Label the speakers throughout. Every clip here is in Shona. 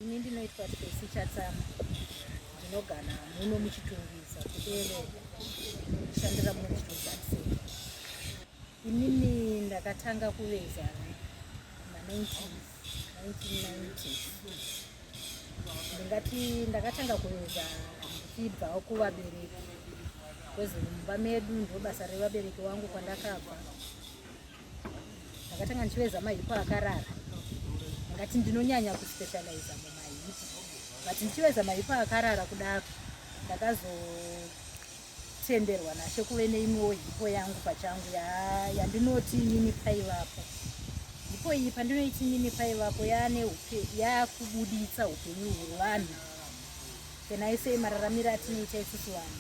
Speaker 1: Ini ndinoitwa Tracy Chatsama ndinogara muno muChitungwiza kuEreka ndishandira muno muChitungwiza Center. Inini ndakatanga kuveza ma1990 ndingati ndakatanga kuveza ndichibvawo kuvabereki kwezimumba medu ndobasa revabereki wangu kwandakabva ndakatanga ndichiveza mahipu akarara ngati ndinonyanya kuspecializa mumahipu but ndichiveza mahipu akarara kudaro ndakazotenderwa nashe kuve neimwewo hipo yangu pachangu yandinoti ya nini paivapo hipo iyi pandinoiti nini paivapo yaane yaakubudiitsa upenyu hwevanhu Can I say mararamiro atinoita isusu vanhu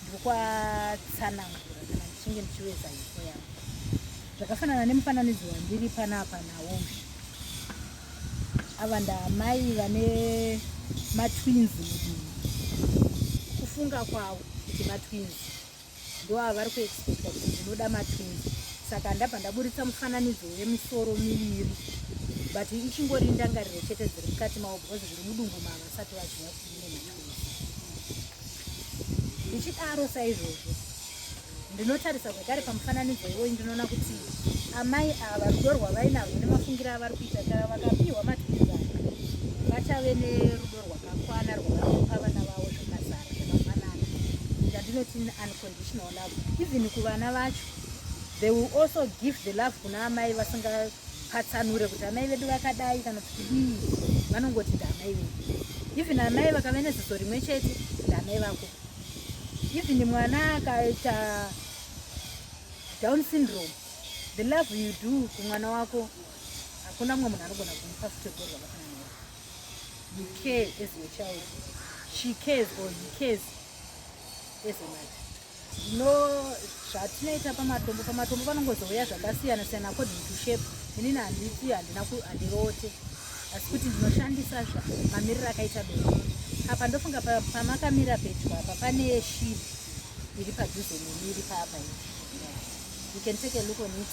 Speaker 1: ndokwatsanangura kana ndichinge ndichiweza ifo yangu zvakafanana nemufananidzo wandiri panapa nawoshi ava ndaamai vane matwins mudii kufunga kwavo kuti matwins ndoava vari kuexpecta kuti ndinoda matwins saka ndabva ndaburitsa mufananidzo wemisoro miviri but ichingori ndangariro chete dziri mukati mavo because zviri mudumbu mava vasati vaziva kuti ndine matwins ndichidaro saizvozvo ndinotarisa zvekare pamufananidzo iwoyi ndinoona kuti amai ava rudo rwavainarwo nemafungiro avari kuita kana vakapiwa matwins ava vachave nerudo rwakakwana rwavanopa vana vavo zvakazara zvakafanana ndandinoti unconditional love even kuvana vacho they will also give the love kuna amai vasingapatsanure kuti amai vedu vakadai kana kuti kudii vanongoti ndaamai vedu even amai vakave neziso rimwe chete ndaamai vako even mwana akaita down syndrome the love you do kumwana wako hakuna mumwe munhu anogona kumupa futi gorwa vafanana You care as your child. She cares or he cares as a mother. No, zvatinoita pamatombo pamatombo panongozouya zvakasiyana siyana according to shape. Inini handiti handina handiroote asi kuti ndinoshandisa zva mamiriro akaita doro apa ndofunga pamakamira pedyo apa pane shiri iri padhuze neni iri paapa you can take a look on it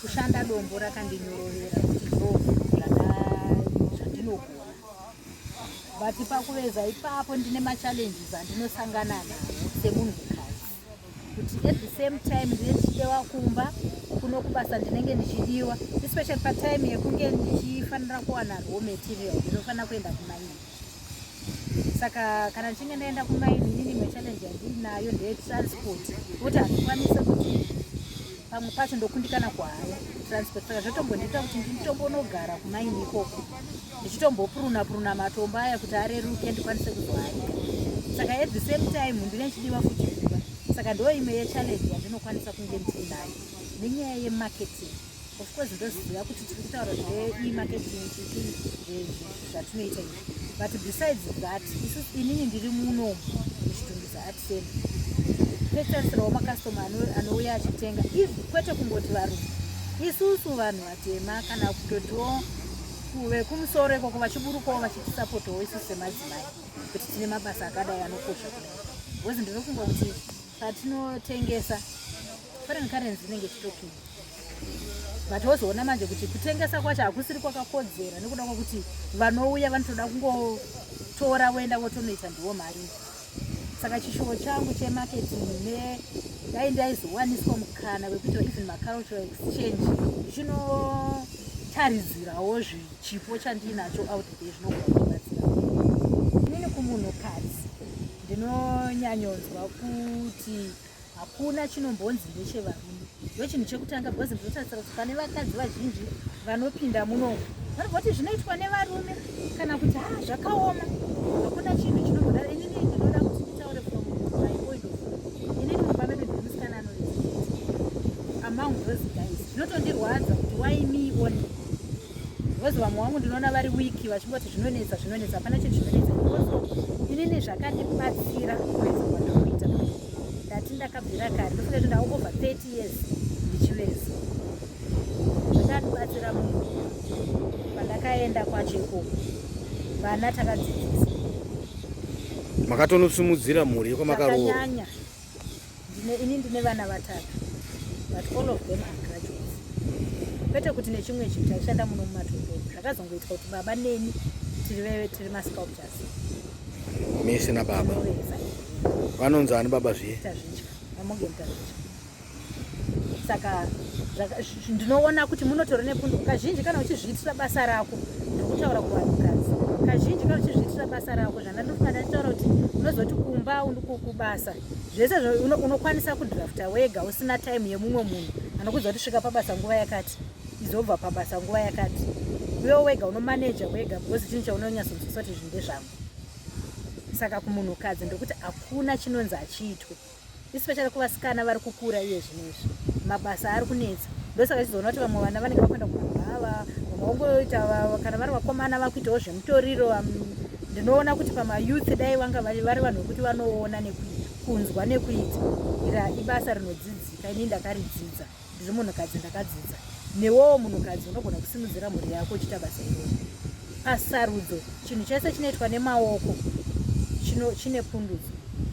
Speaker 1: Kushanda dombo rakandinyorovera kuti ndobve zvandinogona but pakuveza ipapo ndine machallenges andinosangana nawo semunhukadzi kuti at the same time ndine ndichidewa kumba kuno kubasa ndinenge ndichidiwa especially patime yekunge ndichifanira kuwana raw material ndinofanira kuenda kumaini saka kana ndichinge ndaenda kumaini inini imwe challenge yandinayo ndeye transport kuti handikwanise kuti pamwe pacho ndokundikana kuhaya transport saka zvatombondiita kuti nditombonogara kumaini ikoko ndichitombopuruna puruna matombo aya kuti areruke ndikwanise kuzoharika saka at the same time ndine chidiwa futi kuba saka ndo imwe yechallenge yandinokwanisa kunge ndiinayo nenyaya yemarketing of course ndoziva kuti tiri kutaura zvemarketing zvatinoita izvi but besides that isu inini ndiri muno muchitungisa at same petarisirawo makastoma anouya achitenga if kwete kungoti varume isusu vanhu vatema kana kutotiwo vekumusoro ikoko vachiburukawo vachitisapotawo isusu semadzimai kuti tine mabasa akadai anokosha kudai bcause ndiri kungoti patinotengesa foreign currency inenge chitokini but wozoona manje kuti kutengesa kwacho hakusiri kwakakodzera nekuda kwekuti vanouya vanotoda kungotora voenda votonoita ndiwo mari saka chishuwo changu chemarketing ne dai ndaizowaniswa mukana wekuita even macultural exchange chinotaridzirawo zvichipo chandiinacho out there zvinogona kubatsira inini kumunhukadzi ndinonyanyonzwa kuti hakuna chinombonzi ndechevarume ndochinhu chekutanga because ndinotarisira kuti pane vakadzi vazhinji vanopinda muno vanobvoti zvinoitwa nevarume kana kuti ha ah, zvakaoma hakuna chinhu chinomboda inini ndinoda kuti nditaure from my point of inini mumba medu ndiri musikana anoamong those guys zvinotondirwadza kuti why me one Because vamwe wangu ndinoona vari wiki vachingoti zvinonetsa zvinonetsa hapana chinhu chinonetsa because inini zvakandibatsira kuveza kwandikuita ndati ndakabvira kare ndofunga kuti ndava over 30 years ndichiveza zvakandibatsira munhu pandakaenda kwacho ikoko vana takadzidzisa
Speaker 2: makatonosumudzira mhuri yekwamakanyanya
Speaker 1: ini ndine vana vatatu but all of them are graduates kwete kuti nechimwe chinhu chaishanda muno mumatombo zvakazongoitwa kuti baba neni tiri veve tiri masculptures
Speaker 2: misi nababa vanonzi ani baba zviye tazvidya vamoge
Speaker 1: mutazvidya saka ndinoona kuti munotora nepundu kazhinji kana uchizviitira basa rako ndikutaura kuvanhukadzi kazhinji kana uchizviitira basa rako zvandandofana nditaura kuti unozoti kumba kubasa zvese unokwanisa kudrafta wega usina time yemumwe munhu anokuza kuti svika pabasa nguva yakati izobva pabasa nguva yakati uyo wega unomaneja wega because chinhu chaunonyasonzwisoti zvinhu ndezvangu saka kumunhukadzi ndokuti hakuna chinonzi achiitwe especially kuvasikana vari kukura iye zvinezvi mabasa ari kunetsa ndosaka chizoona kuti vamwe vana vanenge vakuenda kumabhava vamwe vongoita kana vari vakomana vakuitawo zvemutoriro ndinoona kuti pamayouth dai vanga vari vanhu vekuti vanoona nekunzwa nekuita ira ibasa rinodzidzika ini ndakaridzidza ndiri munhukadzi ndakadzidza newowo munhukadzi unogona kusimudzira mhuri yako uchiita basa iroo pasarudzo chinhu chese chinoitwa nemaoko chine pundudzo